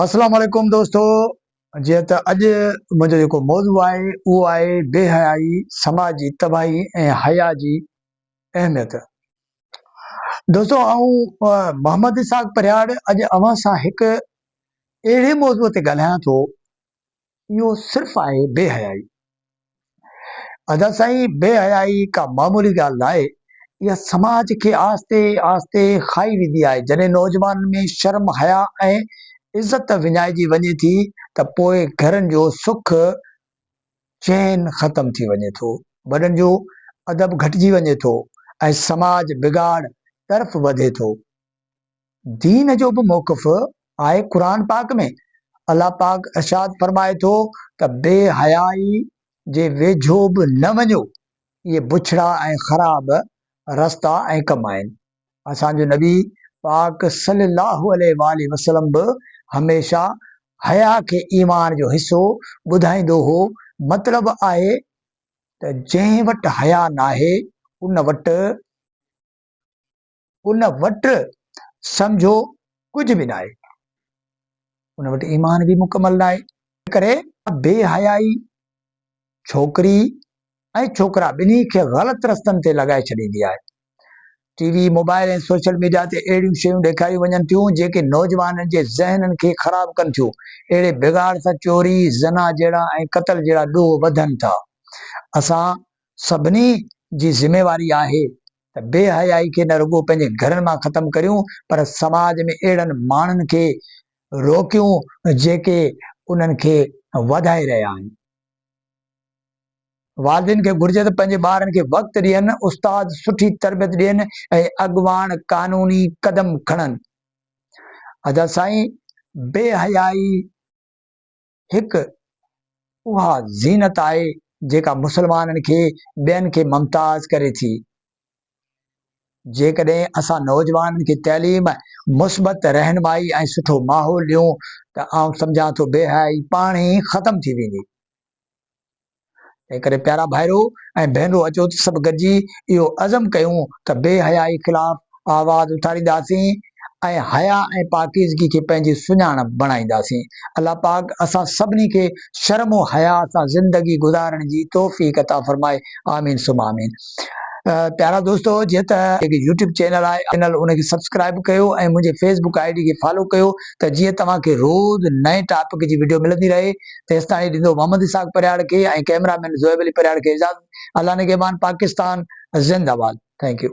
اسلام عليڪم دوستو جيئن ته اڄ منهنجو جيڪو موضوع آهي اهو آهي بي حيائي سماج جي تباهي ۽ حيا جي اهميت دوستو آئون محمد اسحاق پرهياڙ اڄ اوهان سان هڪ اهڙي موضوع تي ڳالهايان ٿو اهو صرف آهي بي حيائي. ادا سائين بي حيائي ڪا معمولي ڳالهه ناهي اها سماج کي آهستي آهستي کائي ويندي آهي جڏهن نوجوانن ۾ شرم حيا ۽ عزت وڃائجي وڃي ٿي ته پوء گهرن جو سک چين ختم ٿي وڃي ٿو وڏن جو ادب گهٽجي وڃي ٿو ۽ سماج بگاڙ طرف وڌي ٿو. دين جو به موقف آهي قرآن پاڪ ۾ الله پاڪ ارشاد فرمائي ٿو ته بي حيائي جي ويجهو به نه وڃو اهي بڇڙا ۽ خراب رستا ۽ ڪم آهن اسان جو نبي پاڪ صلي الله عليه واٰله وسلم به هميشه حياء کي ايمان جو حصو ٻڌائيندو هو مطلب آهي ته جنهن وٽ حياء ناهي ان وٽ ان وٽ سمجهو ڪجهه به ناهي، ان وٽ ايمان به مڪمل ناهي. ان ڪري بي حيائي ڇوڪري ۽ ڇوڪرا ٻنهي کي غلط رستن تي لڳائي ڇڏيندي آهي. T V, mobile ۽ social media تي اهڙيون شيون ڏيکاريون وڃن ٿيون جيڪي نوجوانن جي ذهنن کي خراب ڪن ٿيون. اهڙي بگاڙ سان چوري، زنا جهيڙا ۽ قتل جهڙا ڏوهه وڌن ٿا. اسان سڀني جي ذميواري آهي ته بي حيائي کي نه رڳو پنهنجي گهرن مان ختم ڪريون پر سماج ۾ اهڙن ماڻهن کي روڪيون جيڪي انهن کي وڌائي رهيا آهن. والدين کي گهرجي ته پنهنجي ٻارن کي وقت ڏين، استاد سٺي تربيت ڏين ۽ اڳواڻ قانوني قدم کڻن. ادا سائين بي حيائي. هڪ اها زينت آهي جيڪا مسلمانن کي ٻين کي ممتاز ڪري ٿي. جيڪڏهن اسان نوجوانن کي تعليم، مثبت رهنمائي ۽ سٺو ماحول ڏيون ته آئون سمجهان ٿو بيحيائي پاڻهي ئي ختم ٿي ويندي. تنهن ڪري پيارا ڀائرو ۽ ڀينرو اچو ته سڀ گڏجي اهو عزم ڪيون ته بي حيائي خلاف آواز اٿارينداسين ۽ حيا ۽ پاڪيزگي کي پنهنجي سڃاڻپ بڻائينداسين. الله پاڪ اسان سڀني کي شرم و حياء سان زندگي گذارڻ جي توفيق عطا فرمائي آمين ثم آمين پيارا دوستو جي ته جيڪي يوٽيوب چينل آهي چينل ان کي سبسڪرائب ڪيو ۽ منهنجي فيسبڪ آئي ڊي کي فالو ڪيو ته جيئن توهان کي روز نئين ٽاپڪ جي وڊيو ملندي رهي. تيستائين هي ڏيندو محمد اسحاق پرهياڙ کي ۽ ڪئميرا مين زوئب علي پرهياڙ کي اجازت الله نگهبان پاڪستان زنده باد ٿينڪ يو.